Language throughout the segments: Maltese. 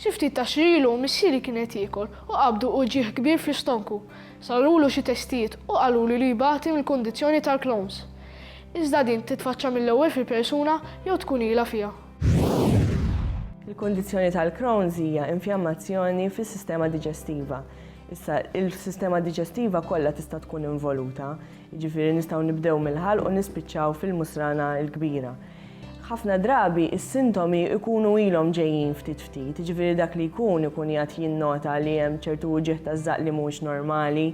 Xi ftit tax-xhur ilu missieri kien qed jiekol u qabdu uġigħ kbir fl-istonku. Sarulu xi testijiet u qalulu li jbati mill-kundizzjoni tal-Crohn's. Iżda din titfaċċa mill-ewwel fil-persuna jew tkun ilha fiha. Il-kundizzjoni tal-Crohn's hija infjammazzjoni fis-sistema diġestiva. Issa, il-sistema diġestiva kollha tista' tkun involuta. Jiġifieri nistgħu nibdew mill-ħalq u nispiċċaw fil-musrana l-kbira. Ħafna drabi s-sintomi jkunu ilhom ġejjin ftit ftit, jiġifieri dak li jkun ikun qiegħed jinnota li hemm ċertu uġigħ taż-żaqq li mhuwiex normali,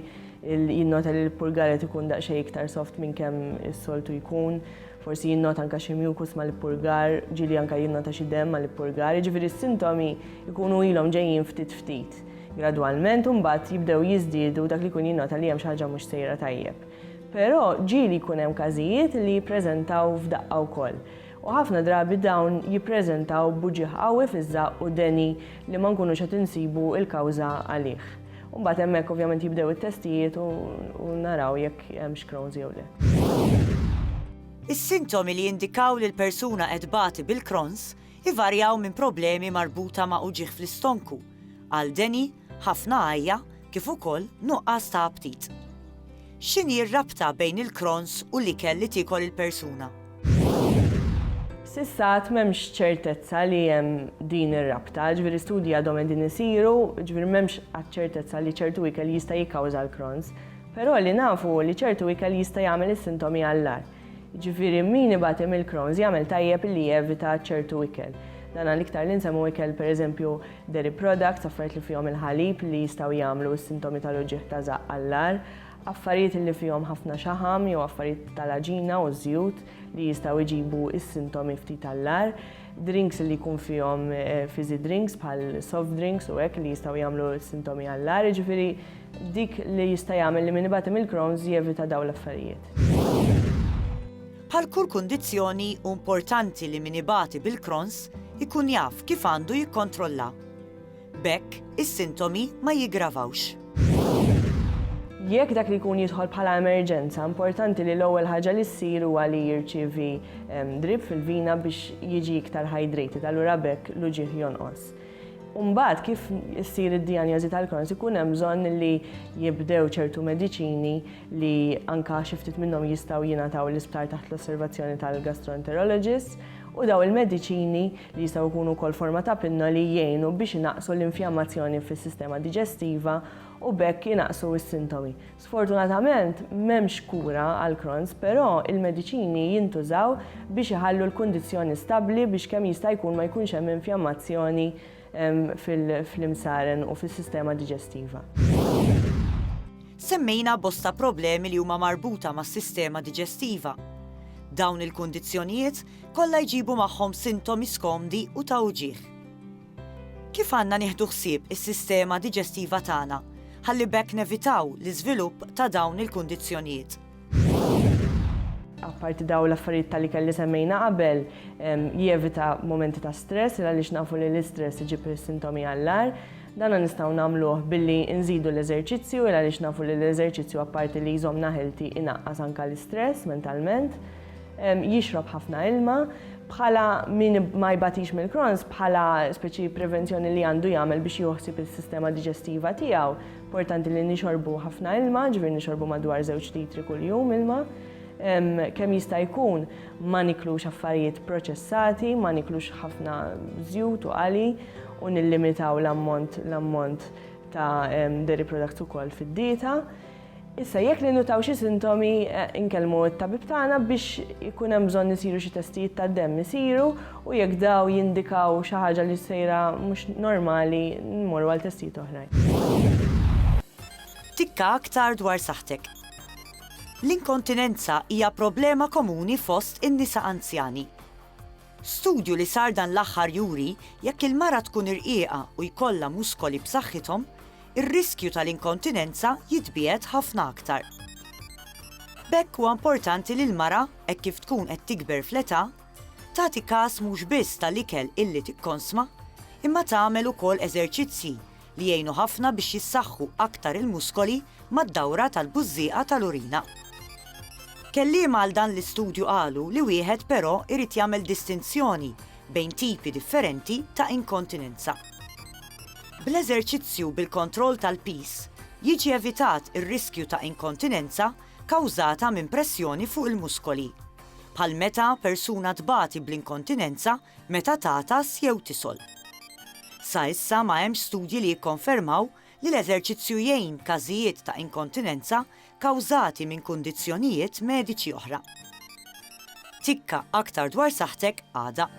jinnota li l-purgar qed ikun daqsxejn iktar soft minn kemm is-soltu jkun, forsi jinnota anke xi mucus mal-ippurgar, ġieli anke jinnota xi demm mal-ippurgar, jiġifieri s-sintomi jkunu ilhom ġejjin ftit ftit. Gradwalment imbagħad jibdew jiżdiedu dak li jkun jinnota li hemm xi ħaġa mhux sejra tajjeb. Però ġieli jkun hemm każijiet li jippreżentaw f'daqqa wkoll. U ħafna drabi dawn jippreżentaw b'uġigħ qawwi fiż-żaqq u deni li ma nkunux qed insibu l-kawża għalih. U mbagħad hemmhekk ovvjament jibdew it-testijiet u naraw jekk hemmx Crohn's jew le. Is-sintomi li jindikaw li l-persuna qed tbati bil-Crohn's Ivarjaw minn problemi marbuta ma' uġigħ fl-istonku, għal deni, ħafna għajja, kif ukoll nuqqas ta' aptit. X'inhi r-rabta bejn il-Crohn's u l-ikel li tiekol il-persuna? S'issa għad m'hemmx ċertezza li hemm din ir-rabta, jiġifieri studji għadhom qegħdin isiru, jiġifieri m'hemmx għad ċertezza li ċertu ikel jista' jikkawża l-Crohn's. Però li nafu hu li ċertu ikel jista' jagħmel is-sintomi għall-agħar. Jiġifieri min ibati mill-Crohn's jagħmel tajjeb li jevita ċertu ikel. Dan għall-iktar li nsemmu ikel pereżempju dairy products, affarijiet li fihom il-ħalib li jistgħu jagħmlu s-sintomi tal-uġigħ ta' żaqq għall-agħar, affarijiet li fihom ħafna xaħam jew affarijiet tal-għaġina u żjut li jistgħu jġibu s-sintomi ftit għall-agħar. Drinks li jkun fihom fizzy drinks bħal soft drinks u hekk li jistgħu jagħmlu sintomi għall-għar, jiġifieri dik li jista' jagħmel li min ibati mill-Crohn's jevita dawn l-affarijiet. Bħal kull kundizzjoni hu importanti li min ibati bil-Crohn's ikun jaf kif għandu jikkontrollha. B'hekk, is-sintomi ma jiggravawx. Jekk dak li jkun jidħol bħala emerġenza, importanti li l-ewwel ħaġa li ssir huwa li jirċievi drip fil-vina biex jiġi iktar hydrated, allura b'hekk l-uġigħ jonqos. Imbagħad kif issir id-dijanjożi tal-Crohn's ikun hemm bżonn li jibdew ċertu mediċini li anke xi ftit minnhom jistgħu jingħataw l-isptar taħt l-osservazzjoni tal-gastroenterologist u dawn il-mediċini, li jistgħu jkunu wkoll forma ta' pinna li jgħinu biex inaqqsu l-infjammazzjoni fis-sistema diġestiva u b'hekk inaqqsu s-sintomi. Sfortunatament, m'hemmx kura għal Crohn's, però il-mediċini jintużaw biex iħallu l-kundizzjoni stabbli biex kemm jista' jkun ma jkunx hemm infjammazzjoni fil-imsaren u fis-sistema diġestiva. Semmejna bosta problemi li huma marbuta mas-sistema diġestiva. Dawn il-kundizzjonijiet kollha jġibu magħhom sintomi skomdi u ta' uġigħ. Kif għandna nieħdu ħsieb is-sistema diġestiva tagħna ħalli b'hekk nevitaw l-iżvilupp ta' dawn il-kundizzjonijiet? apparti daw l-affarijiet tal ikel li semmejna qabel, jevita momenti ta' stress, il għaliex nafu li l-istress iġib sintomi għallar. Dana nistaw namluħ billi nżidu l-eżerċizzju, il għaliex nafu li l-eżerċizzju apparti li jżom naħilti inaqqas anka l-istress mentalment. Jixrob ħafna ilma, bħala min ma jbatix mill-krons, bħala speċi prevenzjoni li għandu jagħmel biex joħsib il-sistema diġestiva tiegħu, Importanti li nixorbu ħafna ilma, ġifieri nixorbu madwar żewġ litri kuljum ilma. Kemm jista' jkun ma niklux affarijiet proċessati, ma niklux ħafna żjut u qali u nillimitaw l-ammont l-ammont ta' dairy products ukoll fid-dieta. Issa jekk li nutaw xi sintomi eh, inkellmu t-tabib tagħna biex ikun hemm bżonn isiru xi testijiet tad-demm isiru u jekk dawn jindikaw xi ħaġa li sejra mhux normali mmorru għal testijiet oħrajn. Tikka aktar dwar saħħtek. L-inkontinenza hija problema komuni fost in-nisa anzjani. Studju li sar dan l-aħħar juri jekk il-mara tkun irqiqa u jkollha muskoli b'saħħithom, ir-riskju tal-inkontinenza jitbiegħed ħafna aktar. B'hekk huwa importanti li l-mara, hekk kif tkun qed tikber fl-età, Tagħti każ mhux biss tal-ikel illi tikkonsma, imma tagħmel ukoll eżerċizzji li jgħinu ħafna biex jissaħħu aktar il-muskoli mad-dawra tal-bużżieqa tal-urina. Kelliema għal dan l-istudju qalu li wieħed però jrid jagħmel distinzjoni bejn tipi differenti ta' inkontinenza. Bl-eżerċizzju bil-kontroll tal-piż jiġi evitat ir-riskju ta' inkontinenza kawżata minn pressjoni fuq il-muskoli. bħal meta persuna tbati bl-inkontinenza meta tagħtas jew tisol. Sa issa ma hemmx studji li jikkonfermaw li l-eżerċizzju jgħin każijiet ta' inkontinenza kawżati minn kundizzjonijiet mediċi oħra. Tikka aktar dwar saħħtek għada.